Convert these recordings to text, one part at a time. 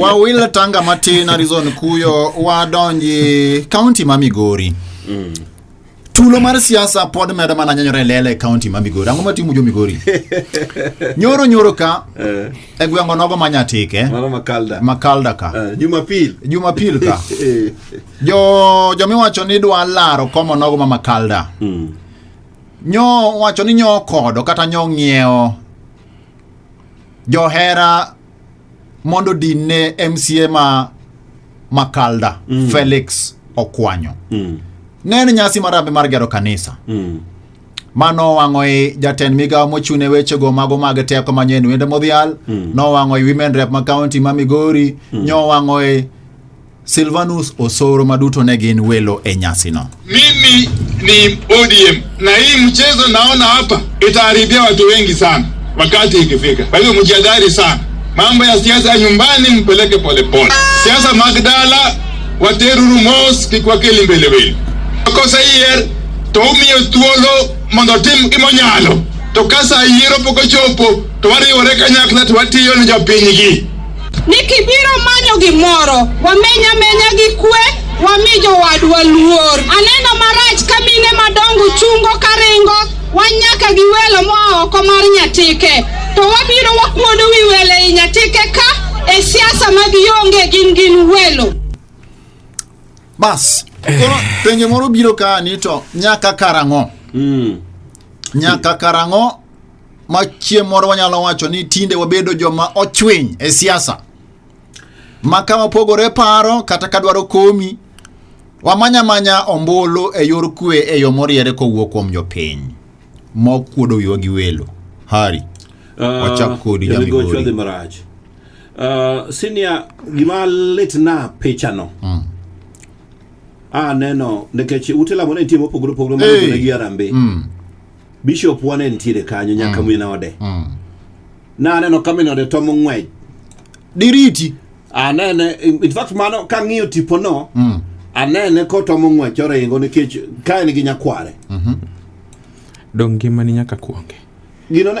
Wawil tanga matin Arizona kuyo wadonji kaunti ma Migori. Mm. Tulo mar siasa pod medo mana nyanyore e lele e kaunti ma Migori. Ang'o matimo jo Migori? nyoro nyoro ka eh. e gweng'o nogo ma Nyatike. Mano Makalda. Makalda ka. Eh, Jumapil. Jumapil ka. Eh. jo jo miwacho ni dwa laro komo nogo ma Makalda. Mm. Nyo wacho ni nyo kodo kata nyo ng'iewo johera mondo din ne MCA ma Makalda mm. Felix Okwanyo mm. ne en nyasi marambe mar gero kanisa mm. mano wang'o i jatend migawo mochune wechego mago mag teko manyen wende modhial mm. nowang'o i women rep ma county ma migori mm. nyo wang'o i Silvanus Osoro maduto ne gin welo e nyasino. Mimi ni ODM na hii mchezo naona hapa itaharibia watu wengi sana wakati ikifika. Kwa hivyo mjihadhari sana, mambo ya siasa ya nyumbani mpeleke polepole. Siasa Magdala wateruru mos kik wakeli mbeleweli kosa yier to umiyo thuolo mondo otim gimonyalo to kasa yiero pok ochopo to wariwore kanyakla to watiyo ne jopinygi ni kibiro manyo gimoro wameny amenya gi kwe wami jowadwa luor aneno marach ka mine madongo chungo karingo wan nyaka gi welo moa oko mar nyatike to wabiro wakuodo wi welo ei nyatike ka e siasa mag yonge gin gin welo bas koro penjo moro biro ka ni to nyaka karang'o nyaka karang'o Machie moro wanyalo wacho ni tinde wabedo joma ochwiny e siasa ma ka wapogore paro kata ka dwaro komi wamanya manya ombulu e yor kwe e yo moriere kowuok kuom jopiny mokuodo wiwa gi welo hari wachak kodi jamigori marach uh, senior gima litna pichano mm. aneno nikech ute lamo ne nitie mopogore opogore manodone gi arambe mm. Bishop wan en tiere kanyo nyaka mm. min ode. Mm. Na aneno ka min ode to mong'wej. Diriti. Anene in fact mano ka ng'iyo tipo no. Mm. Anene ko to mong'wej oringo nikech ka en gi nyakware. Mhm. Mm Dong ngimani nyaka kuonge. Gino ne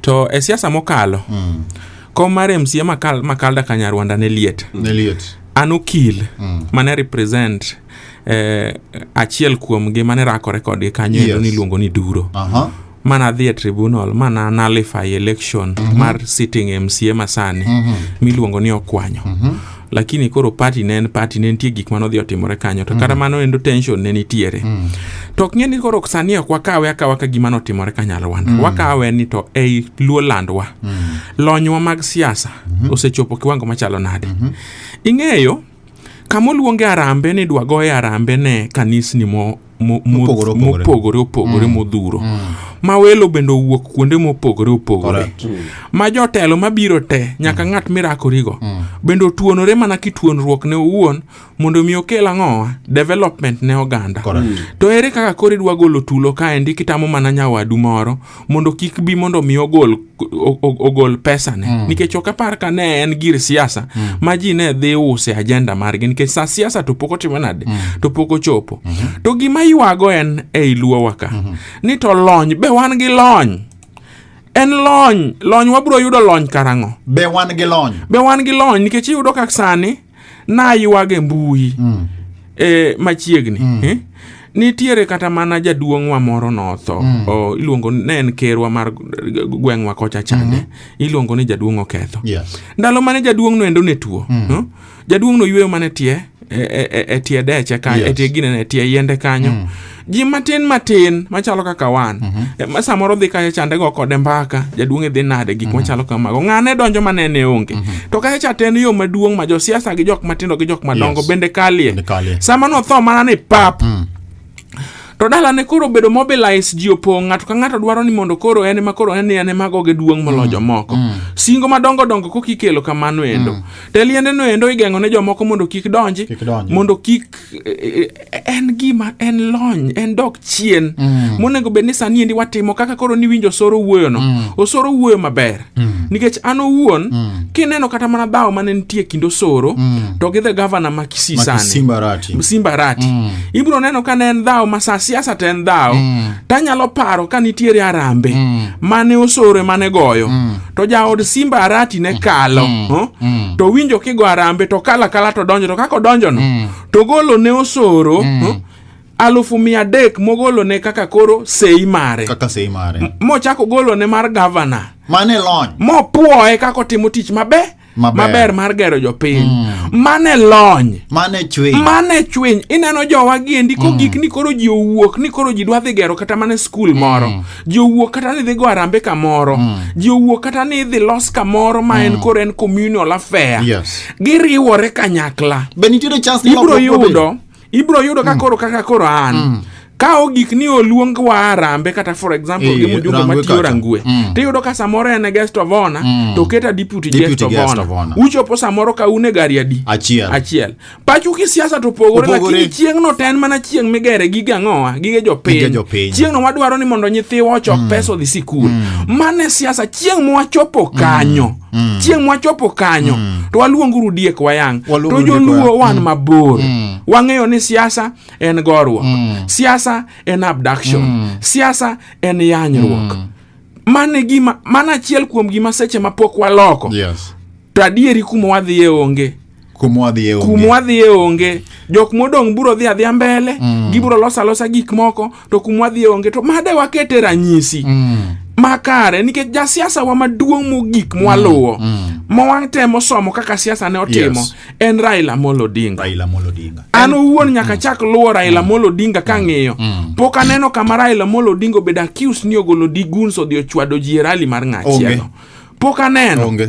to e siasa mokalo mm. kom mar mca makal, makalda kanyarwanda ne liet ne liet an okil mm. mane represent eh, achiel kuomgi mane rakore kodgi kanyo Yes. yes. niluongo ni duro aha mana dhi e tribunal mana nullify election mm-hmm. mar sitting mca masani mm-hmm. miluongo ni okwanyo mm-hmm. lakini koro party ne en party ne nitie gik mane odhi otimore kanyo to kata mano endo tension ne nitiere to ok ng'e ni koro sani ok wakawe akawa ka gima notimore ka nyalwanda wakawe ni to ei luo landwa lonywa mag siasa osechopo kiwango machalo nade ing'eyo kamoluonge arambe ni dwagoye arambe ne kanisni mo mo- mo- Mopogore opogore. mopogore opogore modhuro ma welo bende owuok kuonde mopogore opogore Correct. ma jotelo mabiro te nyaka ng'at mirakorigo bende otuonore mana kituonruok ne owuon mondo mi okel ang'owa development ne oganda Correct. to ere kaka koro idwa golo tulo kaendi kitamo mana nyawadu moro mondo kik bi mondo mi ogol ogol pesa ne mm. nikech ok apar ka ne en gir siasa mm. ma ji ne dhi use ajenda margi nikech sa siasa to pok otimo nade mm. to pok ochopo mm -hmm. to gima ywago en ei luowa ka mm -hmm. ni to lony be wan gi lony en lony lony wabiro yudo lony karang'o be wan gi lony be wan gi lony nikech iyudo kak sani naywage mbui mm. e, machiegni mm. eh? nitiere kata mana jaduong'wa moro notho mm. o, iluongo ne en kerwa mar gweng'wa kocha chande mm -hmm. iluongo ni jaduong' oketho yes. ndalo mane jaduong'no endo ne tuo mm. no? jaduong'no yweyo mana tie e, e, e, e tie deche kanyo yes. e tie ginene e tie yiende kanyo mm. ji matin matin machalo kaka wan mm -hmm. ma samoro dhi kacha chande go kode mbaka jaduong' e dhi nade gik mm -hmm. machalo kamago ng'ane donjo ma nene onge mm -hmm. to kacha cha ten yo maduong' ma josiasa gi jok matindo gi jok madongo yes. bende kalie sama notho mana ni pap mm -hmm to dalane koro obedo mobilize ji opong' ng'ato ka ng'ato dwaro ni mondo koro en ma koro en en ema goge duong' molo mm. jomoko mm. singo madongo dongo kokikelo kamano endo mm. teliendeno endo igeng'o ne jomoko mondo kik donji mondo kik e, e, en gima en lony en dok chien mm. monego bed ni sani endi watimo kaka koro ni winjo osoro wuoyo no mm. osoro wuoyo maber mm. nikech an owuon mm. kineno kata mana dhawo mane nitie kind osoro mm. to gi the governor ma kisii sani simbarati, simbarati. Mm. ibiro neno ka ne en dhawo ma sa siasa to en dhawo mm. tanyalo paro ka nitiere arambe mm. mane osoro emane goyo mm. to jaod simba arati ne kalo huh? to winjo kigo arambe to kalo akala to donjo to kaka odonjono to golo ne osoro huh? alufu mia adek mogolo ne kaka koro sei mare kaka sei mare mochako golo ne mar gavana mane lony mopwoye kaka otimo tich maber Maber. maber mar gero jopiny mane lony Mane chwe. mane chwiny ineno jowa giendi kogik ni koro ji owuok ni koro ji dwa dhi gero kata mana skul moro ji owuok kata ni dhi go arambe kamoro ji owuok kata ni idhi los kamoro ma en koro en communal affair Yes. giriwore kanyakla Be nitiere chance ni ibro lokruok biro bedo? yudo ibro yudo ka koro kaka koro an ka ogik ni oluong wa arambe kata for example Eh, gi mjumbe Rangwe matiyo kacha. rangwe Mm. tiyudo ka samoro en e guest of honor Mm. to oketa deputy Deputy guest of guest honor of honor. uchopo samoro ka un e gari adi achiel achiel pachu kisiasa to opogore Opogore. lakini chieng'no to en mana chieng' migere gige ang'owa gige Gige jopiny jopiny. chieng'no wadwaro ni mondo nyithiwa ochok pesa odhi sikul mane siasa chieng' mwachopo kanyo Mm. chieng' mwachopo kanyo mm. to waluonguru diek wayang' to joluo wan mm. mabor mm. wang'eyo ni siasa en gorruok mm. siasa en abduction mm. siasa en yanyruok mm. mane gima mana achiel kuom gima seche mapok waloko yes. to adieri kuma wadhiye onge kuma wadhiye onge kuma wadhiye onge jok modong' biro dhi adhiya mbele mm. gibiro losa losa gik moko to kuma wadhiye onge to made wakete ranyisi mm. makare nikech jasiasa wa maduong' mogik mwaluwo mm. mm. mawatemo somo kaka siasa ne otimo yes. en Raila Amolo Odinga Raila Amolo Odinga an owuon nyaka mm. chak luwo Raila mm. Amolo Odinga ka mm. ng'iyo mm. pok aneno kama Raila Amolo Odinga obedo accused ni ogolo diguns odhi ochwado ji e rali mar ng'achielo pok aneno okay.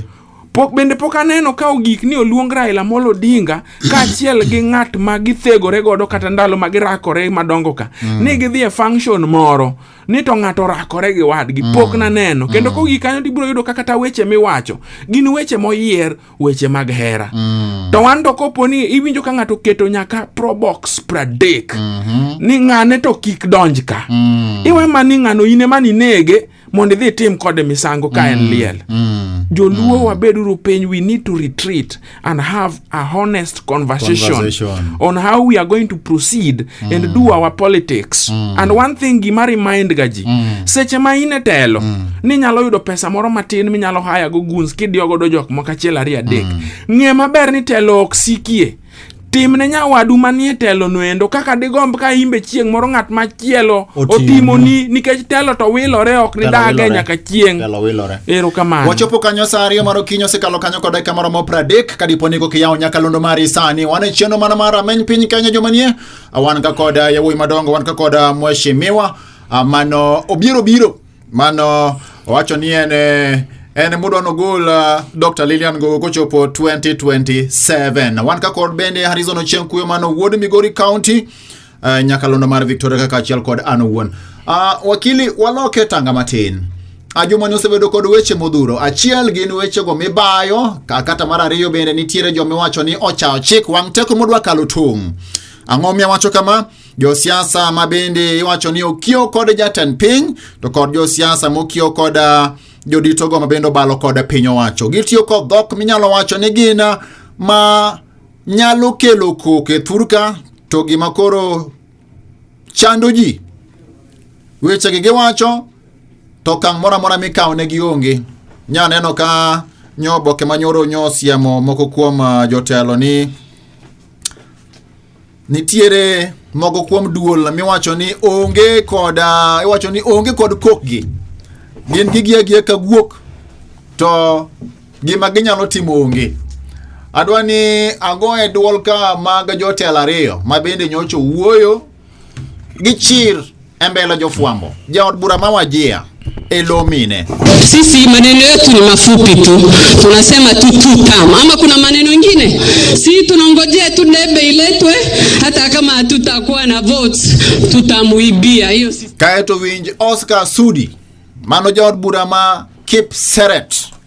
Pok bende pok aneno ka ogik ni oluong Raila Amolo Odinga kaachiel gi ng'at ma githegore godo kata ndalo ma girakore madongo ka mm. ni gidhi e function moro ni to ng'ato orakore gi wadgi mm. pok naneno mm. kendo kogik kanyo tibiro yudo ka kata weche miwacho gin weche moyier weche mag hera mm. to wan to kopo ni iwinjo ka ng'ato keto nyaka probox pradek mm -hmm. ni ng'ane to kik donj ka mm. iwe ma ni ng'ano ine ma ninege mondo idhi itim kode misango ka en mm, liel mm, joluo mm. wabeduru piny we need to retreat and have a honest conversation, conversation. on how we are going to proceed mm. and do our politics mm. and one thing gima remind ga ji mm. seche ma in e telo mm. ni nyalo yudo pesa moro matin minyalo haya go guns kidiyo godo jok moko achiel ariyo adek mm. ng'e maber ni telo ok sikie tim ne nyawadu manie telo noendo kaka digomb ka imbe chieng' moro ng'at machielo otimoni nikech telo to wilore ok nidage nyaka chieng' ero kamano wachopo kanyo sa ariyo mar okinyi osekalo kanyo kod dakika moromo pradek ka dipo ni kokiyawo nyakalondo mari sani wan e chieno mana mar ameny piny kenya jomanie wan ka kod yawuoyi madongo wan ka kod mweshimiwa mano obiro biro Mano owacho ni en eh, en mudwa nogol uh, Dr. Lilian Ngogo kochopo 2027. Wan ka kod bende Harrison Ochieng Kuyo mano wuod Migori County uh, nyakalondo mar Victoria kaka achiel kod an owuon. Uh, wakili waloke tanga matin. Ajumani osebedo kod weche modhuro. Achiel gin wechego mibayo, kata mar ariyo bende nitiere jomiwacho ni ochawo chik wang' teko modwa kalo tong'. Ang'o miya wacho kama? josiasa ma bende iwacho ni okiewo kod jatend piny to kod josiasa mokiewo kod ah, joditogo ma bende obalo kod piny owacho gitiyo kod dhok minyalo wacho ni gin ah, ma nyalo kelo koko e thurka to gima koro chando ji wechegi giwacho to okang' moro amora mikawo ne gionge nya neno ka nyo oboke manyoro nyo siemo moko kuom ah, jotelo ni nitiere mogo kuom duol miwacho ni onge kod ah, iwacho ni onge kod kokgi gin gigiagia ka guok to gima ginyalo timo onge adwa ni ago e dwol ka mag jotelo ariyo ma bende nyocha owuoyo Gichir e mbele jofwambo. Jaod bura ma Wajia Elomine. Sisi maneno yetu ni mafupi tu, tunasema tu tu tam, ama kuna maneno ingine? Si tunangojea tu debe iletwe, hata kama hatutakuwa na votes tutamuibia hiyo. Kaeto winj Oscar Sudi mano jaod bura ma Kipseret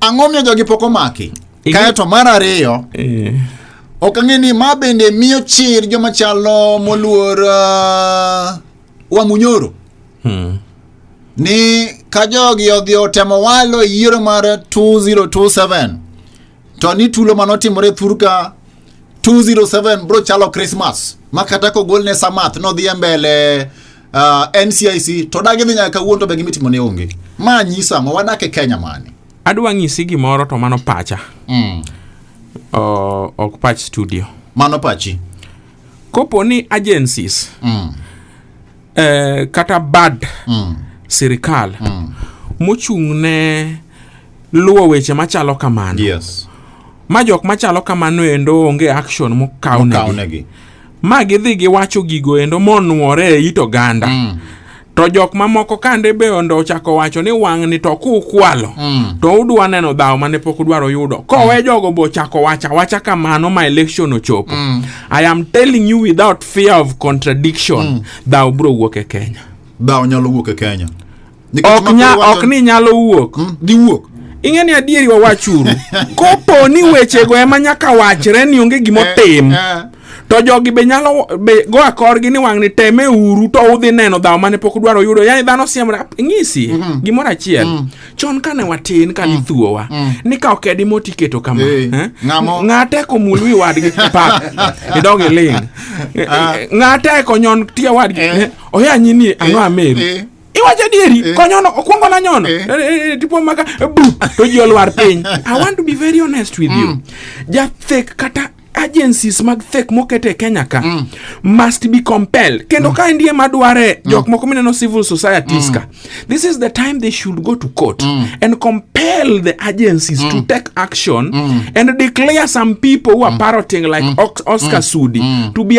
Ang'o miyo jogi pok omaki? Igi- Kae to mar ariyo, Eh, ok ang'e ni ma bende miyo chir joma chalo moluor uh, Wamunyoro hmm. ni ka jogi odhi otemo walo e yiero mar 2027 to ni tulo mane otimore thurka 207 bro chalo Christmas ma kata kogolne samath nodhi e mbele uh, ah, NCIC to dagi dhi nyaka kawuono to be gimitimo ne onge. Ma nyisa ang'o wadak e Kenya mani. Adwa ng'isi gimoro to mano pacha. Mm. Uh, ok pach studio. Mano pachi. Kopo ni agencies. Mm. Eh, kata bad mm. sirikal mm. mochung' ne luwo weche machalo kamano. Yes. Ma jok machalo kamano endo onge action mokawnegi. ma gidhi giwacho gigo endo monwore e it oganda mm. to jok mamoko kande be ondo ochako wacho ni wang'ni to kukwalo mm. to udwa neno dhawo mane pok udwaro yudo kowe mm. jogo be ochako wacha wacha kamano ma election ochopo mm. i am telling you without fear of contradiction mm. dhawo bro wuok e kenya dhawo nyalo wuok e kenya Nikech ok, ma nya, koro wacho- ok ni nyalo wuok Mm, giwuok ing'e ni adieri wawachuru kopo ni wechego ema nyaka wachre ni onge gimotim Eh, eh. to jogi be nyalo be go akorgi ni wang'ni teme uru to udhi neno dhawo mane pok udwaro yudo yani dhano siemra ng'isi gimoro achiel chon kane watin kane ithuowa ni ka okedi moti keto kama Eh, eh? ng'amo- ng'ate komul wi wadgi pa idog iling Ah. ng'ate konyon tie wadgi Eh. eh? oya nyini ang'o Eh, ameri eh. iwacho dieri eh. konyono okwongo na nyono eh. eh, tipo maka bu to ji olwar piny i want to be very honest with you mm. jathek kata agencies mag thek moket e kenya ka mm. must be compelled kendo mm. ka endie madware mm. jok moko mineno civil societies mm. ka this is the time they should go to court mm. and compel the agencies mm. to take action mm. and declare some people who are mm. parroting like mm. oscar mm. sudi mm. to be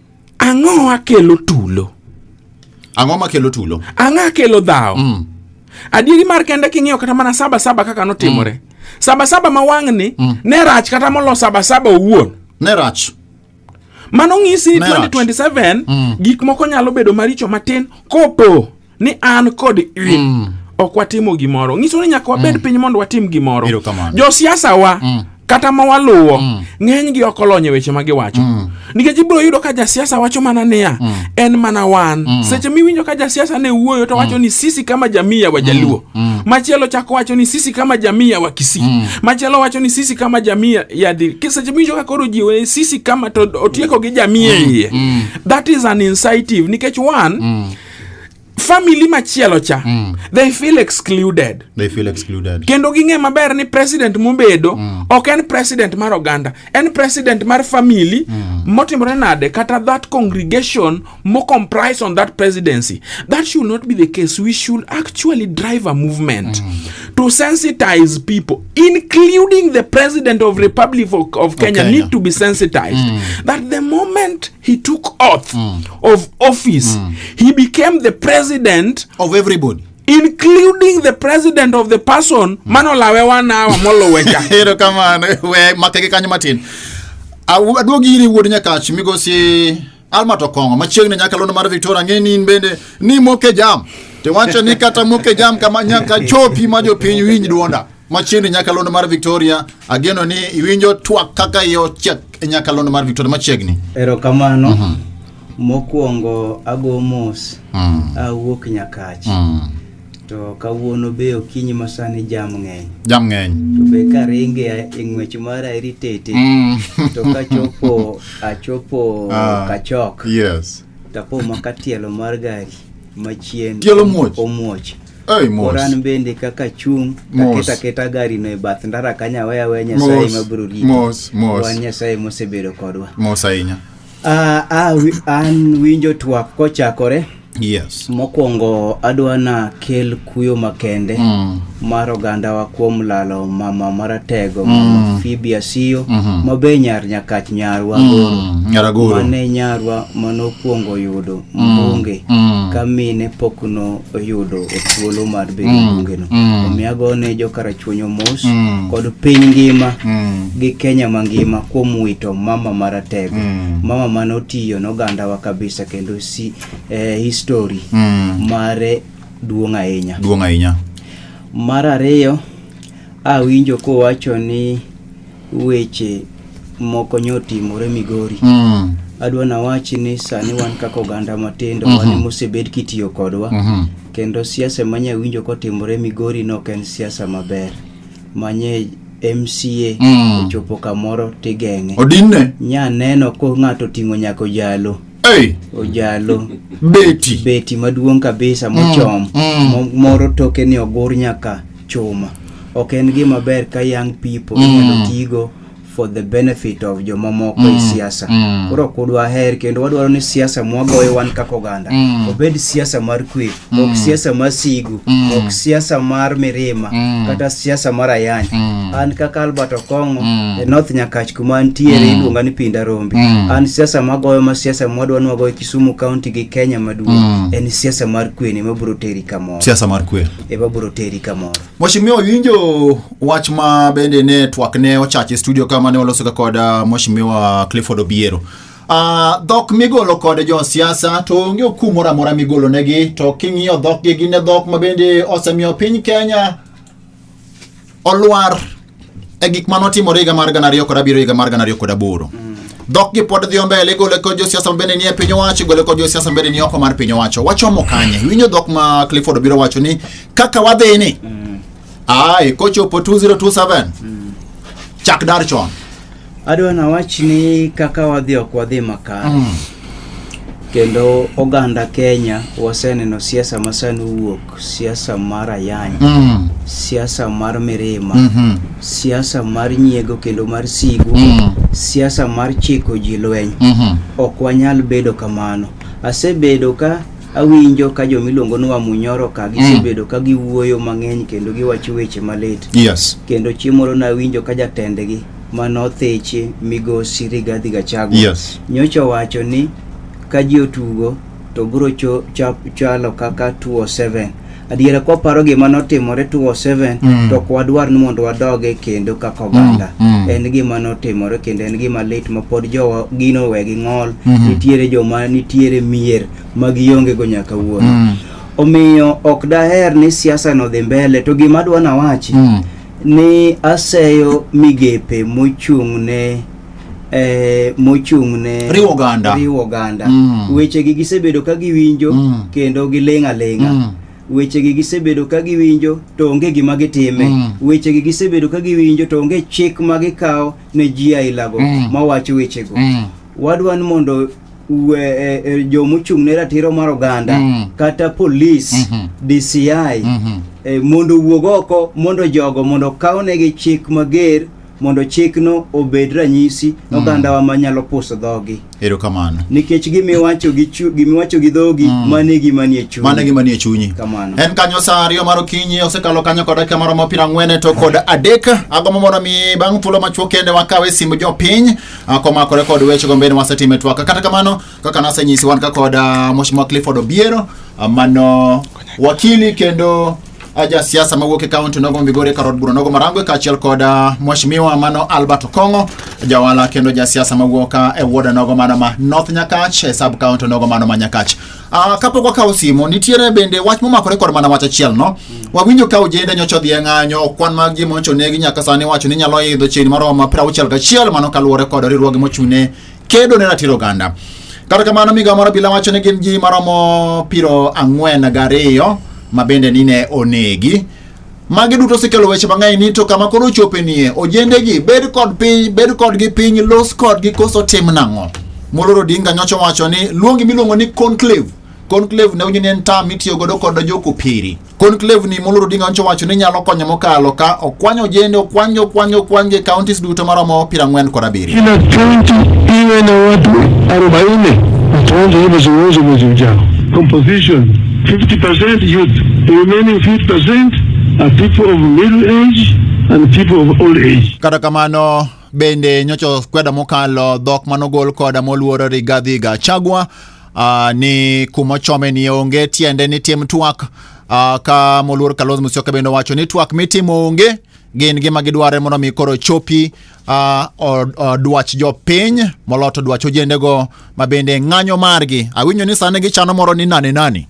Ang'o makelo tulo? Ang'o makelo tulo? Ang'o makelo dhawo? Mm. Adieri mar kende king'iyo kata mana saba saba kaka notimore. Mm. Saba saba ma wang'ni mm. ne rach kata molo saba saba owuon. Ne rach. Mano ng'isi ni 2027 mm. gik moko nyalo bedo maricho matin kopo ni an kod in mm. ok watimo gimoro nyiso ni nyaka wabed mm. piny mondo watim gimoro josiasa wa mm. kata ma waluwo mm. ng'eny gi ok olony e weche ma giwacho mm. nikech ibiro yudo ka jasiasa wacho mana niya mm. en mana wan mm. seche miwinjo ka jasiasa ne wuoyo to wacho mm. ni sisi kama jamii ya wajaluo mm. mm. machielo chako wacho ni sisi kama jamii ya wakisii mm. machielo wacho ni sisi kama jamii ya dhi seche miwinjo ka koro jiwo ni sisi kama to otieko gi jamii mm. iye mm. that is an incentive nikech one mm. family machielo cha mm. they feel excluded they feel excluded kendo ging'e maber ni president mobedo mm. ok en president mar oganda en president mar family mm. motimore nade kata that congregation mo comprise on that presidency that should not be the case we should actually drive a movement mm. to sensitize people including the president of republic of, of, kenya, of kenya, need to be sensitized mm. that the moment he took oath mm. of office mm. he became the president of everybody including the president of the person mm. manolawe wanawa molowecha ero kamano we makege kanyo matin aduogi iri wuod nyakach migosi alma to kongo machiegni nyaka lono mar victoria ng'e ni in bende ni moke jam tiwacho ni kata moke jam kama nyaka chopi ma jopiny winj duonda Machiegni nyakalondo mar Victoria, ageno ni iwinjo twak kaka iye ochiek e nyakalondo mar Victoria machiegni. Erokamano. Uh -huh. Mokwongo ago mos. Uh mm. -huh. Awuok Nyakach. Uh mm. -huh. To kawuono be okinyi masani jam ng'eny. Jam ng'eny. To be karinge e ng'wech mara eritete. Mm. to kachopo achopo uh, kachok. Yes. Tapo makatielo mar gari machien. Tielo muoch. Omuoch. Hey, Koran bende kaka chung' taketa keta gari no e bath ndara kanya weya weya Nyasaye ma biro rito. Mos, mos. Wan Nyasaye mosebedo kodwa. Mos ahinya. Ah, ah, an winjo twak kochakore. Yes. Mokwongo adwa na kel kuyo makende mm. mar ogandawa kuom lalo mama maratego mm. mama Phoebe Asiyo mm -hmm. mabe nyar nyakach nyarwa mm. Nyaragoro. Mane nyarwa manokwongo yudo mbunge mm. ka mine pok no oyudo thuolo mar bedo mm. mbunge no mm. omiyo ago ne jokarachuonyo mos mm. kod piny ngima mm. gi Kenya mangima kuom wito mama maratego mm. mama mane otiyo nogandawa kabisa kendo si eh, history mm. mare duong' ahinya duong' ahinya mar ariyo awinjo kowacho ni Weche moko nyo timore Migori. Mm. Adwa na wachi ni sani wan kaka oganda matindo mm -hmm. wan mosebed kitiyo kodwa mm -hmm. kendo siasa manya winjo kotimore Migori no ken siasa maber manye MCA mm. ochopo kamoro tigeng'e. Odinne. Nya neno ko ng'ato ting'o nyako jalo. Hey. Ojalo. Beti. Beti maduong' kabisa mochom. Mm. Mm. Moro toke ni ogur nyaka. chuma ok en gima ber ka young people mm. inyalo tigo for the benefit of jomamoko mm. e siasa mm. koro ok udwa her kendo wadwaro ni siasa mwagoyo wan kaka oganda mm. obed siasa mar kwe mm. ok siasa mar sigu mm. ok siasa mar mirima mm. kata siasa mar ayany mm. an kaka albert okongo mm. e north nyakach kuma antiere mm. iluonga ni pinda rombi mm. an siasa magoyo ma siasa mwadwa ni wagoyo kisumu county gi kenya maduong' mm. en siasa mar kwe ni mabiro teri kamoro siasa mar kwe eba bro teri kamoro. Mheshimiwa winjo wach ma bende ne twak ne ochache studio kama ne waloso ga kod uh, Mheshimiwa Clifford Obiero. Uh, dhok migolo kod jo siasa to onge okum moro amora migolo negi to king'iyo dhok gi gin dhok ma bende osemiyo piny Kenya olwar e gik mane otimore higa mar gana ariyo kod abiriyo higa mar gana ariyo kod aboro dhokgi pod dhi mbele igole kod josiasa mabende nie piny owacho igole kod josiasa mabende ni oko mar piny owacho wachomo kanye winjo dhok ma clifford obiro wacho ni kaka wadhini mm. ai kochopo 2027 mm. chak dar chon Adwa na wach ni kaka wadhi ok wadhi makare. Mm. Kendo oganda Kenya waseneno siasa ma sani wuok, siasa mar ayany, mm. siasa mar mirima, mm -hmm. siasa mar nyiego kendo mar sigu, mm. siasa mar chiko ji lweny. Mm -hmm. Ok wanyal bedo kamano. Asebedo ka awinjo ka joma iluongo ni wamunyoro ka mm. gisebedo ka giwuoyo mang'eny kendo giwacho weche malit yes. kendo chieng' moro nawinjo ka jatendgi manotheche migosi Rigathi Gachagua yes. nyocha owacho ni ka ji otugo to biro chalo kaka 207 adiera kwa paro gima notimore 2007 mm. to kwa dwar ni mondo wadoge kendo kaka oganda mm. mm. en gima notimore kendo en gima lit ma pod jowa gino we gi ng'ol mm -hmm. nitiere joma nitiere mier ma gionge go nyaka wuono mm. omiyo ok daher ni siasa no dhi mbele to gima dwa na wachi mm. ni aseyo migepe mochung' ne eh, mochung' ne Riwo oganda. riwo oganda. Mm. wechegi gisebedo ka giwinjo Mm. kendo giling' aling'a Mm. wechegi gisebedo ka giwinjo to onge gima gitime Mm. wechegi gisebedo ka giwinjo to onge chik ma gikawo ne ji ailago Mm. mawacho wechego Mm. wadwa ni mondo we, e, e, jomochung' ne ratiro mar oganda Mm. kata polis Mhm. DCI Mhm. e, mondo owuog oko mondo jogo mondo okawnegi chik mager mondo chikno obed ranyisi ne mm. ogandawa ma nyalo puso dhogi. Erokamano. Nikech gimiwacho gi chu, gimiwacho gi dhogi mm. mane gima nie chunyi. Mane gima nie chunyi. Kamano. En kanyo saa ariyo mar okinyi osekalo kanyo kod dakika maromo piero ang'wen to kod adek. Agombo mondo mi bang' thuolo machuok kende wakawe simb jopiny ah, komakore kod weche gombeni wasetime twaka. Kata kamano kaka nasenyisi wan ka kod ah, Mheshimiwa Clifford Obiero ah, mano wakili kendo aja siasa mawuok e kaunti nogo Migori e karod bura nogo Marangwe kaachiel kod ah, mheshimiwa mano Albert Okongo jawala kendo ja siasa mawuok ah, e wuoda nogo mano ma North Nyakach e sub kaunti nogo mano ma Nyakach. Uh, kapok wakawo simo nitiere bende wach momakore kod mana wach achiel no mm. wawinjo ka ojende nyocha odhi e ng'anyo kwan mag ji moncho negi nyaka sani wacho ni nyalo idho chiegni maromo piero auchiel gachiel mano kaluwore kod riwruoge mochune kedo ne ratiro oganda. Kata kamano migawo mar obila wacho ni gin ji maromo piro ang'wen gariyo ma bende nine onegi. Magi duto osekelo weche mang'eny ni to kama koro ochope nie ojendegi bed kod piny bed kodgi piny los kodgi koso tim nang'o. Moloro Odinga nyocha wacho ni luongi miluongo ni conclave. Conclave ne unyini en tam mitiyo godo kod jokopiri. Conclave ni Molo Odinga Oncho wacho ni nyalo konyo mokalo ka okwanyo ojende okwanyo okwanyo okwanyo e counties duto maromo piero ang'wen kod abiriyo. Kila kaunti iwe na watu 40 wataanza hivyo zoezi mwezi ujao. Composition 50% youth, the remaining 50% are people of middle age and people of old age. Kata kamano bende nyocho kweda mokalo dhok manogol koda moluoro Rigathi Gachagua Uh, ni kuma chome ni onge tiende ni tim twak uh, ka moluor Kalonzo Musyoka bende owacho ni twak mitimo onge gin gima gidware mondo mi koro chopi uh, or, or dwach jopiny moloto dwach ojendego ma bende ng'anyo margi awinjo ni sani gichano moro ni nani nani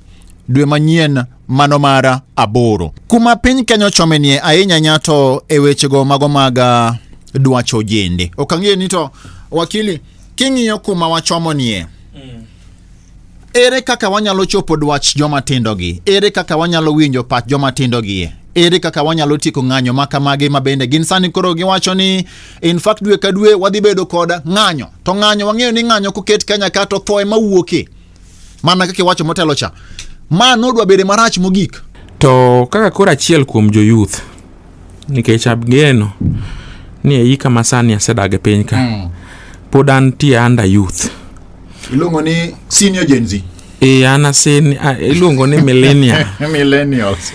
dwe manyien mano mara aboro kuma piny kenya ochomenie ahinya nyato e wechego mago mag dwach ojende ok ang'eyo ni to wakili King'iyo kuma wachomonie, mm. ere kaka wanyalo chopo dwach joma tindogi? Ere kaka wanyalo winjo pach joma tindogi? ere kaka wanyalo tieko ng'anyo ma kamagi ma bende gin sani koro giwacho ni in fact dwe ka dwe wadhi bedo kod ng'anyo to ng'anyo wang'eyo ni ng'anyo koket kanya ka to thoe mawuoke mana kaka iwacho motelo cha ma nodwa bede marach mogik to kaka koro achiel kuom joyuth nikech abgeno ni eika masani asedag e piny ka mm. pod antie under youth iluongo ni senior gen z e an asen iluongo ni millennia millennials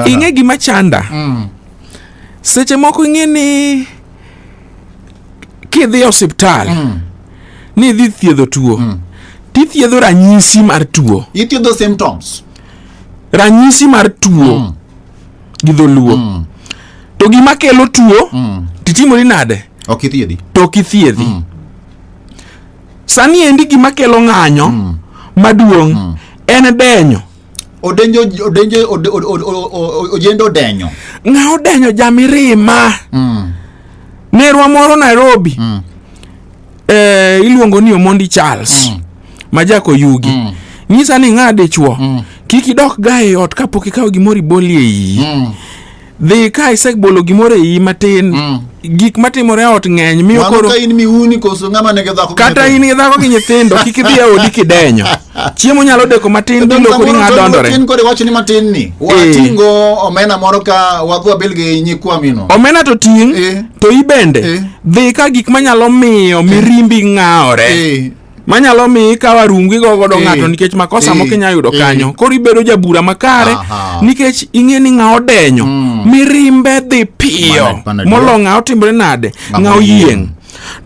ing'e gima chanda mm. seche moko ing'e ni kidhi e osiptal mm. ni idhi thiedho tuo mm. tithiedho ranyisi mar tuo ithiedho symptoms ranyisi mar tuo mm. gi dholuo mm. to gima kelo tuo mm. titimori nade ok ithiedhi to ok ithiedhi mm. sani endi gima kelo ng'anyo mm. maduong' mm. en denyo odenjo odenjo od- od- od- od- od- ojende odenyo ng'a odenyo jamirima Mm, nerwa moro nairobi mm, eh, iluongo ni omondi charles Mm. ma jako yugi Mm. nyisa ni ng'a dichuo Mm. kik idok ga e ot kapok ikawo gimoro ibolie iyi mm. dhi ka isebolo gimoro e iyi matin mm. gik matimore ot ng'eny miyo koro ka in miuni koso ng'ama nigi dhako kata in gi dhako gi nyithindo kik idhi e odi kidenyo chiemo nyalo deko matin dhi loko ni ng'a dondore tin kore wachni matin ni eh. watingo omena moro ka wadhwa bil gi nyikwa mino omena to ting eh. to ibende eh. dhi ka gik manyalo miyo mirimbi ng'awore manyalo mi ikawa rungu igo godo eh, ng'ato nikech makosa eh, moko inya yudo eh. kanyo koro ibedo jabura makare nikech ing'e ni ng'a odenyo mm. mirimbe dhi piyo molo ng'a otimore nade ng'a oyieng'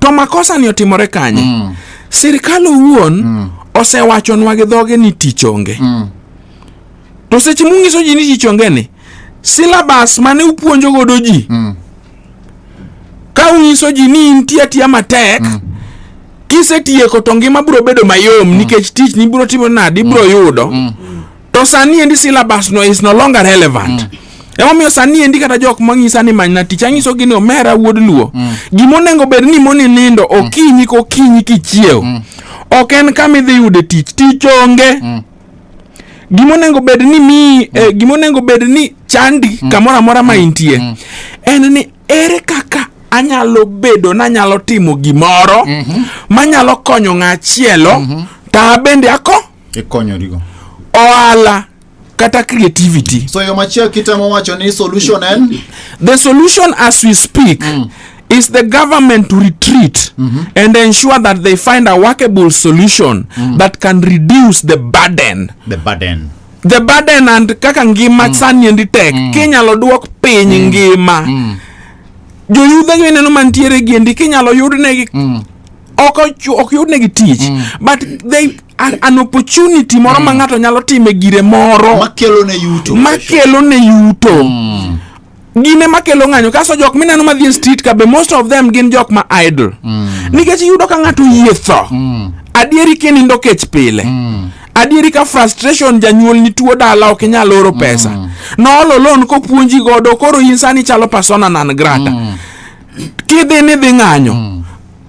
to makosa ni otimore kanye mm. sirikal owuon mm. osewachonwa gi dhoge ni tich onge to seche mung'iso ji ni tich onge ni silabas mane upuonjo godo ji ka unyiso ji ni intie atiya matek mm. kisetieko to ngima biro bedo mayom mm. nikech tich ni biro timo nadi biro mm. yudo mm. to sani endi syllabus no is no longer relevant mm. emomiyo sani endi kata jok mang'isa ni manyna tich ang'iso gi ni omera wuod luo mm. gima onego bed ni moni nindo mm. okinyi kokinyi kichiew mm. ok en kama idhi yude tich tich onge mm. gima onego bed ni mi eh, mm. gima onego bed ni chandi mm. kamoro amora ma mm. intie mm. en ni ere kaka anyalo bedo nanyalo timo gimoro mm -hmm. manyalo konyo ng'achielo mm -hmm. ta bende ako ikonyorigo ohala kata creativity so yo machielo kitemo wacho ni solution en the solution as we speak mm. is the government to retreat and ensure that they find a workable solution that can reduce the burden the burden the burden and kaka ngima mm. sani endi tek mm. kinyalo duok piny mm. ngima mm. joyudhe go ineno mantiere gi endi kinyalo yudnegi mm. ok ochu- ok yudnegi tich mm. but they an, an opportunity moro mm. ma ng'ato nyalo time gire moro makelo ne yuto makelo ne yuto mm. gin ema kelo ng'anyo kaso jok mineno madhi e street ka be most of them gin jok ma idle mm. nikech iyudo ka ng'ato yie tho mm. adieri kinindo kech pile mm. adieri ka frustration janyuol ni tuo dala ok inyal oro mm. pesa mm. noolo lon kopuonji godo koro in sani chalo persona nan grata mm. kidhi ni dhi ng'anyo mm.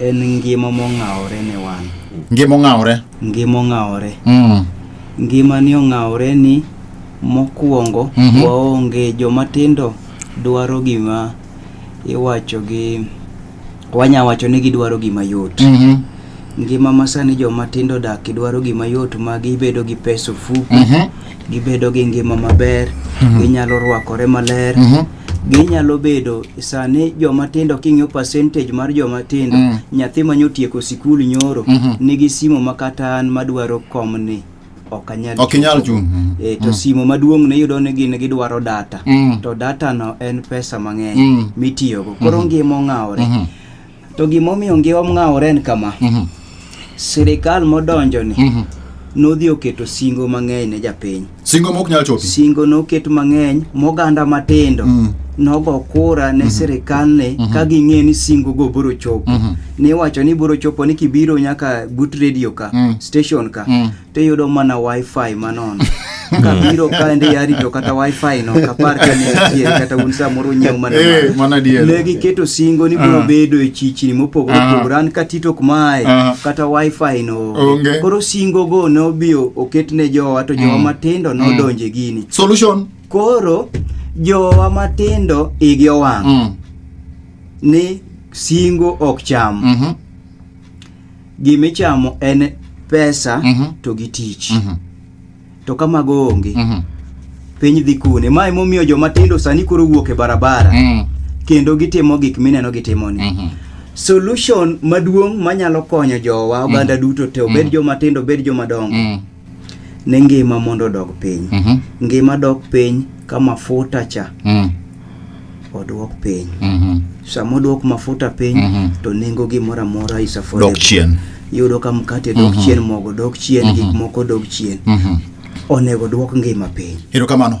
En ngima mong'awore ne wan. Ngima ong'awore. Ngima ong'awore. Mm. Ngima ni ong'awore ni mokwongo mm -hmm. waonge joma tindo dwaro gima iwacho gi wanya wacho ni gidwaro gima yot. Mm -hmm. Ngima masani joma tindo dak idwaro gima yot ma gibedo gi pesa ofuku. Mm -hmm. gibedo gi ngima maber mhm. ginyalo rwakore maler mhm. ginyalo bedo sani joma tindo king'iyo percentage mar joma tindo mm. nyathi manyo tieko sikul nyoro mhm. nigi simo makata an madwaro komni ok anyal ok inyal chung mm. e, to mm. simo maduong ne yudo ni gin gidwaro data mm. to data no en pesa mang'eny mm. mitiyogo koro mm -hmm. ngima ong'awore mm -hmm. To gimomiyo ngiwa mng'awore en kama. Mm -hmm. Sirikal modonjo ni. Mm -hmm. Nodhi oketo singo mang'eny ne japiny. Singo mok nyal chopi. Singo noket mang'eny moganda matindo. Mm -hmm nogo kura ne mhm. sirikal ne mhm. ka ging'e ni singo go biro chopo mhm. ni wacho ni biro chopo ni kibiro nyaka but radio ka station ka tiyudo mana wifi manono kabiro kaendi yarito kata wifi no kapar ka ne nitie kata un samoro nyiew mana Eh, mana dier. ne giketo singo ni biro Ah. bedo e chichni mopogore Ah. opogore an katito ok mae Ah. kata wifi no Onge. koro singo go ne obiyo oket ne jowa to jowa Mm. matindo Mm. nodonje gini solution koro jowa matindo igi owang' Mm. ni singo ok cham Mhm. gima ichamo en pesa Mhm. to gi tich Mhm. to ka mago onge Mhm. piny dhi kune ma emomiyo joma tindo sani koro wuok e barabara Mm. kendo gitimo gik mineno gitimoni Mhm. solution maduong' manyalo konyo jowa oganda duto te obed joma tindo obed joma dongo Mm. ni ngima mondo odog piny Mhm. ngima dok piny ka mafuta cha Mm. odwok piny Mhm. sama odwok mafuta piny Mhm. to nengo gimoro amora is affordable. Dok chien. yudo ka mkate dok Mhm. chien mogo dok chien Mhm. gik moko dok chien Mhm. onego dwok ngima piny Erokamano.